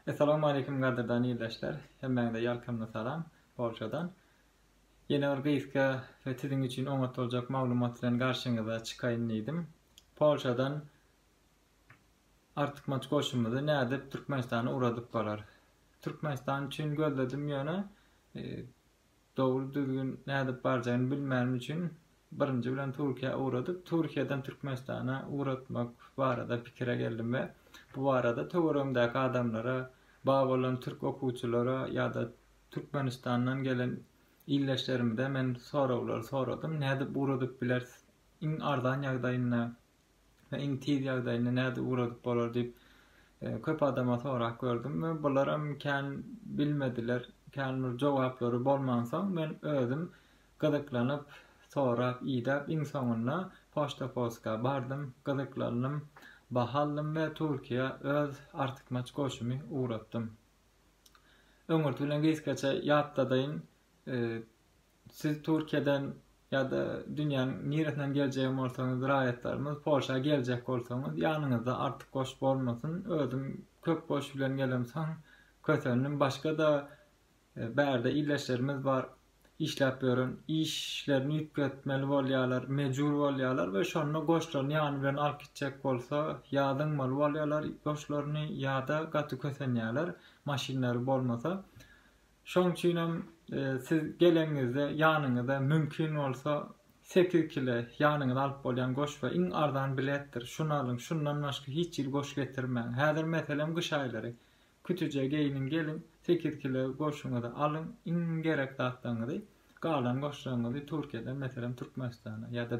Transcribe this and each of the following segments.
Essalamu Aleýkum gadyrdan ildeşler, hemmäňize ýalkymly salam Polşadan. Ýene bir gysga we siziň üçin oňat boljak maglumat bilen garşyňyza çykaýyn diýdim. Polşadan artykmaç goşumyzy nädip Türkmenistana ugradyp bolar? Türkmenistan üçin gözledim ýöne Dogry düzgün nädip barjagyny bilmänim üçin birinji bilen Türkiýä ugradyp, Türkiýeden Türkmenistana ugratmak barada pikire geldim we bu barada töweregimdäki adamlara, bar bolan türk okuwçylara ýa-da Türkmenistandan gelen ildeşlerimize men soraglar soradym, nädip ugradyp bilersiz iň arzan ýagdaýynda? we iň tiz ýagdaýynda nädip ugradyp bolar diýip köp adama sorap gördüm we bularam kän bilmediler, kän bir jogaplary bolmansoň men özüm gyzyklanyp sorap idäp iň soňunda poçta poska bardym, gyzyklandym, baha aldym we Türkiýä öz artykmaç goşumy ugratdym. Öňürti bilen gysgaça ýatladaýyn. Siz Türkiýeden ýa-da dünýäniň niresinden geljegem bolsaňyz raýatlarymyz Polşa geljek bolsaňyz ýanyňyzda artyk goş bolmasyn özüm köp goş bilen gelemsoň kösendim başgada bärde illeşlerimiz bar işläp ýören işlerini üýtgetmeli bolýalar mejbur bolýalar we şonda goşlaryny ýany bilen alyp gitjek bolsa ýa zyňmaly bolýalar goşlaryny ýa-da gaty kösenýäler maşynlary bolmasa Şoň üçin hem siz geleniňizde ýanyňyza mümkin bolsa sekiz kile ýanyňyza alyp bolýan goşba iň arzan biletdir. Şuny alyň, şundan başga hiç hili goş getirmäň. Häzir meselem gyş aýlary. Kütüje geýniň geliň, sekiz kile goşuňyzy alyň, iň gerek zatlaryňyzy, galan goşlaryňyzy Türkiýeden meselem Türkmenistana ýa-da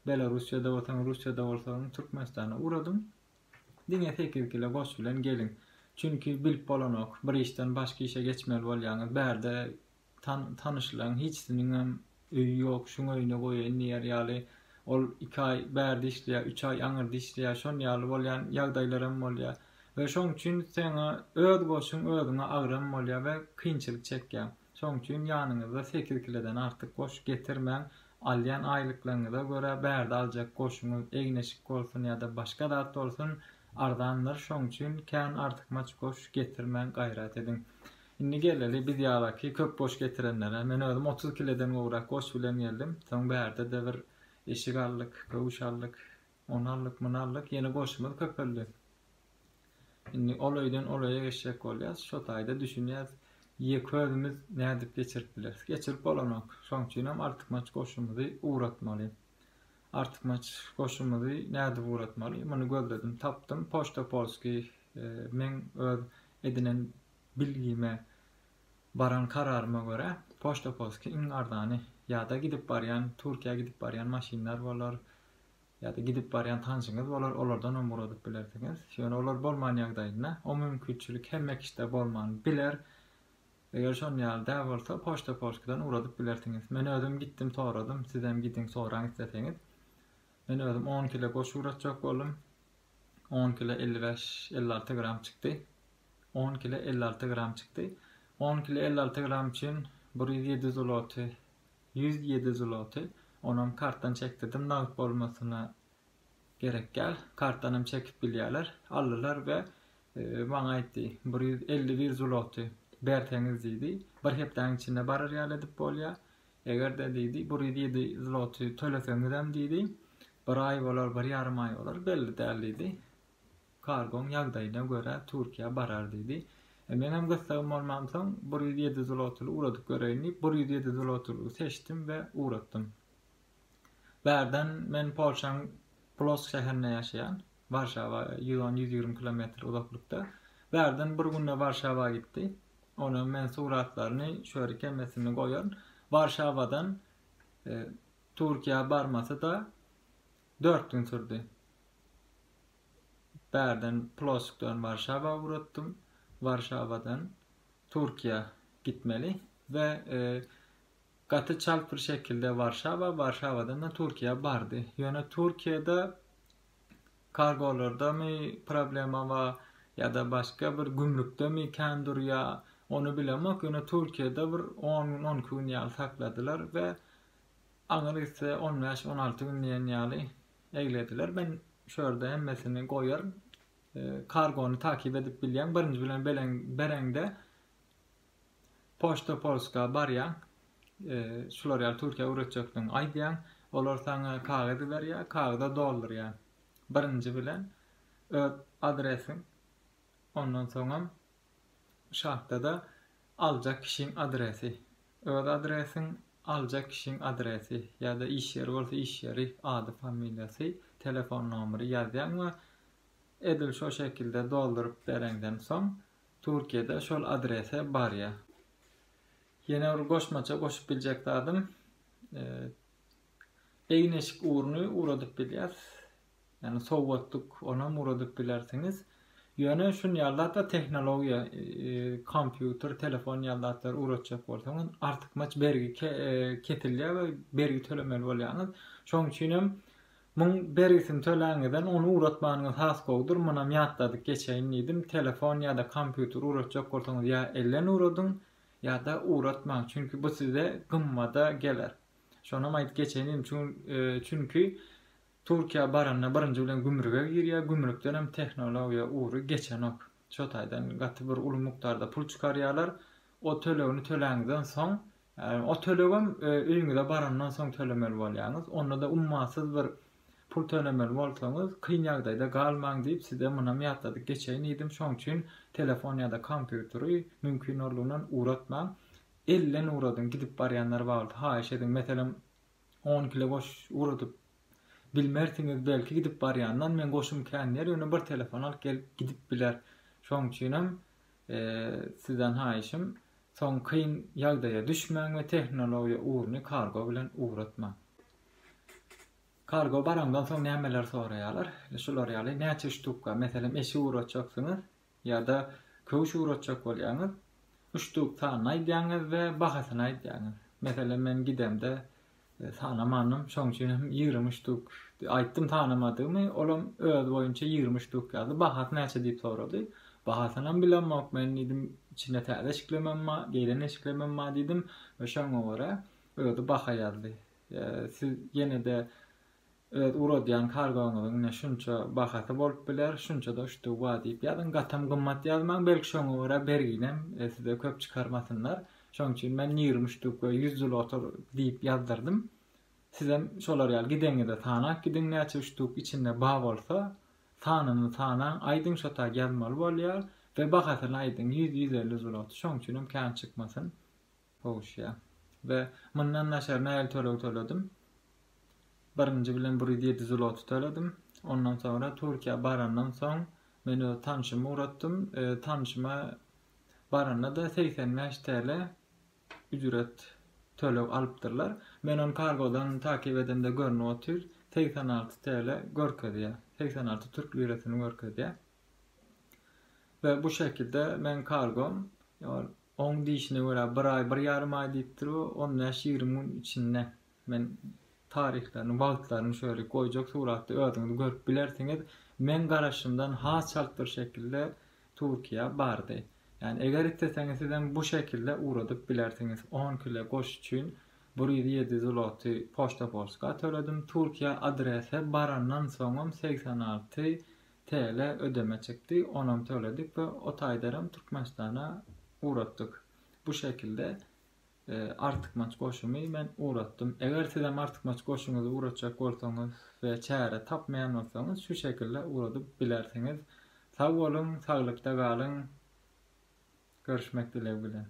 Belarussiýada bolsaňyz Russiýada bolsaňyz Türkmenistana ugradyň. Diňe sekiz kile goş bilen geliň. Çünki bilip bolanok, bir işden başga işe geçmeli bolýaňyz. Bärde tanyşlaň, hiçsiniňem öýi ýok, şuň öýüne goýaýyn diýer ýaly. Ol iki aý bärde işleýär, üç aý aňyrda işleýär, şon ýaly bolýan ýagdaýlaram bolýar. We şoň üçin seňe öz goşuň özüňe agram bolýar we kynçylyk çekýäň. Şoň üçin ýanyňyzda sekiz kilodan artyk goş getirmäň, alýan aýlyklaryňyza görä bärde aljak goşuňyz, egin-eşik bolsun ýa-da başga zat bolsun, arzandyr, şoň üçin kän artykmaç goş getirmäň gaýrat ediň. Indi geleli biz ýalaky köp goş getirenlere, men özüm otuz kilodan gowrak goş bilen geldim, soň bärde-de bir eşik aldyk, köwüş aldyk, Ony aldyk, muny aldyk, ýene goşumyz köpeldi. Indi ol öýden ol öýe geçjek bolýas, şo taýda düşünýäs, ýeke özümiz nädip geçirip bileris. Geçirip bolanok. Şoň üçinem artykmaç goşumyzy ugratmaly. Artykmaç goşumyzy nädip ugratmaly? Muny gözledim, tapdym. Poçta Polskiý meň öz edinen bilgime, baran kararyma görä, Poçta Polskiý iň arzany. Ýa-da gidip barýan, Türkiýä gidip barýan maşynlar bolar, ýa-da gidip barýan tanşyňyz bolar, olardanam ugradyp bilersiňiz. Ýöne olar bolman ýagdaýynda, o mümkinçilik hemme kişide bolman biler. Eger şon ýaly däl bolsa, Poçta Polskidan ugradyp bilersiňiz. Men özüm gitdim soradym, sizem gidiň soraň isleseňiz. Men özüm on kile goş ugratjak boldum. On kile elli bäş, elli alty gram çykdy. On kile elli alty gram çykdy. On kile elli alty gram üçin bir ýüz ýedi zloty Ýüz ýedi zloty. Onam kartdan çekdirdim, nagt bolmasyna gerek däl. Kartdanam çekip bilýärler. Aldylar we maňa aýtdy, bir ýüz elli bir zloty berseňiz diýdi, bir hepdäň içinde barar ýaly edip bolýar. Eger-de diýdi, bir ýüz ýedi zloty töleseňizem diýdi, bir aý bolar, bir ýarym aý bolar, belli däl diýdi. Kargoň ýagdaýyna görä Türkiýä barar diýdi. Meňem gyssagym bolmansoň, bir ýüz ýedi zlotyly ugradyp göreýin diýip, bir ýüz ýedi zlotylygy seçdim we ugratdym. Bärden men Polşaň Plosk şäherinde ýaşaýan, Warşawa ýüz on, ýüz ýigrimi kilometr uzaklykda. Bärden bir günde Warşawa gitdi. Onam men suratlaryny şöri kemesinde goýaryn. Warşawadan Türkiýä barmasy-da dört gün sürdi. Bärden Plosskdan Warşawa ugratdym. Warşawadan Türkiýä gitmeli we gaty çalt bir şekilde Warşawa, Warşawadan-da Türkiýä bardy. Ýöne Türkiýede kargolardamy problema bar ýa-da başga bir gümrükdemi kän durýar, ony bilemok, ýöne Türkiýede bir on gün, on iki gün ýaly sakladylar we aňry gitse on bäş, on alty gün diýen ýaly Eglediler men şu ýerde hemmesini goýaryn kargony takyp edip bilýäň birinji bilen bereňde poçta polska barýaň şular ýaly türkiýä öwretjekdigiňi aýdýaň olar saňa kagyz berýär kagyza doldurýaň birinji bilen öz adresiň ondan soňam şartda-da aljak kişiň adresi, öz adresiň, aljak kişiň adresi ýa-da iş ýeri bolsa iş ýeri, ady, familiýasy, telefon nomeri ýazýaň we edil şo şekilde dolduryp bereňden soň Türkiýede şol adrese barýar. Ýene bir goşmaça goşup biljek zadym, egin-eşik uruny uradyp bilýäs. Ýagny sowgatlyk onam ugradyp bilersiňiz. Ýöne şun ýallatda tehnologiýa, kompýuter, telefon ýallatlary ugratjak bolsaňyz artykmaç bergi kesilýär we bergi tölemeli bolýaňyz. Şoň üçin hem muň bergisini töläňizden ony ugratmanyňyz has gowudyr. Munam ýatladyp geçeýin diýdim. Telefon ýa-da kompýuter ugratjak bolsaňyz ýa elden ugradyň, ýa-da ugratmaň. Çünki bu size gymmada geler. Şonam aýdyp geçeýin diýdim. Çünki Türkiýä baranda birinji bilen gümrüge girýär, gümrükdenem tehnologiýa ugry geçenok. Şo taýdan gaty bir uly mukdarda pul çykarýarlar. O tölegini töläňizden soň, ýagny o tölegem öýüňize barandan soň tölemeli bolýaňyz. Onda-da ummasyz bir pul tölemeli bolsaňyz, kyn ýagdaýda galmaň diýip size munam ýatladyp geçeýin diýdim. Şoň üçin telefon ýa-da kompýuteri mümkin orlugyndan ugratmaň. Elden ugradyň, gidip barýanlar bagldy. Haýyş ediň, meselem, On kile goş ugradip bilmersiňiz belki gidip barýandan men goşum kän ýer ýöne bir telefon alyp gelip gidip biler şoň üçinem sizden haýyşym soň kyn ýagdaýa düşmäň we tehnologiýa ugruny kargo bilen ugratmaň. Kargo baraňdan soň nämeler soraýarlar şular ýaly näçe ştuka meselem eşik ugratjaksyňyz ýa-da köwüş ugratjak bolýaňyz, uçduk sanyny aýdýaňyz we bahasyny aýdýaňyz. Meselem, men gidemde sanamandym, şoň üçin hem ýigrimi uçduk aýtdym, tanamadygymy, olam özi boýunça ýigrimi uçduk ýazdy, bahasy näçe diýip sorady. Bahasynam bilemok men diýdim, içinde täze eşiklemem bar, geýlen eşiklemem bar diýdim we şoňa görä özi baha ýazdy. Siz ýene-de Öz ugradýan kargoňyzyň ine şunça bahasy bolup biler, şunça-da uçdugy bar diýip ýazyň. Gatam gymmat ýazmaň, belki şoňa görä berginem size köp çykarmasynlar. Şonuň üçin men ýigrimi uçduk we ýüz zloty diýip ýazdyrdym. Sizem şolar ýaly gideňizde sanap gidiň, näçe uçduk içinde bar bolsa, sanyny sanaň, aýdyň şo tar ýazmaly bolýar we bahasyny aýdyň, ýüz, ýüz elli zloty, şonuň üçinem kän çykmasyn. Howşja. Be, mundan daşary nähili töleg töledim? Birinji bilen bir ýüz ýedi zloty töledim. Ondan soňra Türkiýä barandan soň, men öz tanşymy ugratdym. Tanşyma baranda-da segsen bäş TL ücret, töleg alypdyrlar. Men ony kargodan takip edemde görnüp otyr, segsen alty TL görkezýär, segsen alty türk lirasyny görkezýär. We bu şekilde meň kargom ol oň diýşine görä bir aý bir ýarym aý diýipdir we on bäş ýigrimi gün içinde men taryhlaryny wagtlaryny şöyle goýjak suratda özüňiz görüp bilersiňiz meň garaşymdan has çalt bir şekilde Türkiýä bardy ýani eger isleseňiz sizem bu şekilde ugradyp bilersiňiz on kile goş üçin bir ýüz ýedi zloty poşta polska töledim Türkiýä adrese barandan soňam segsen alty TL ödeme çykdy, onam töledik we o taýdaram Türkmenistana ugratdyk. Bu şekilde artykmaç goşumy men ugratdym. Eger sizem artykmaç goşuňyzy ugratjak bolsaňyz we çäre tapmaýan bolsaňyz şu şekilde ugradyp bilersiňiz. Sag boluň, saglykda galyň. Görüşmek dilegi bilen.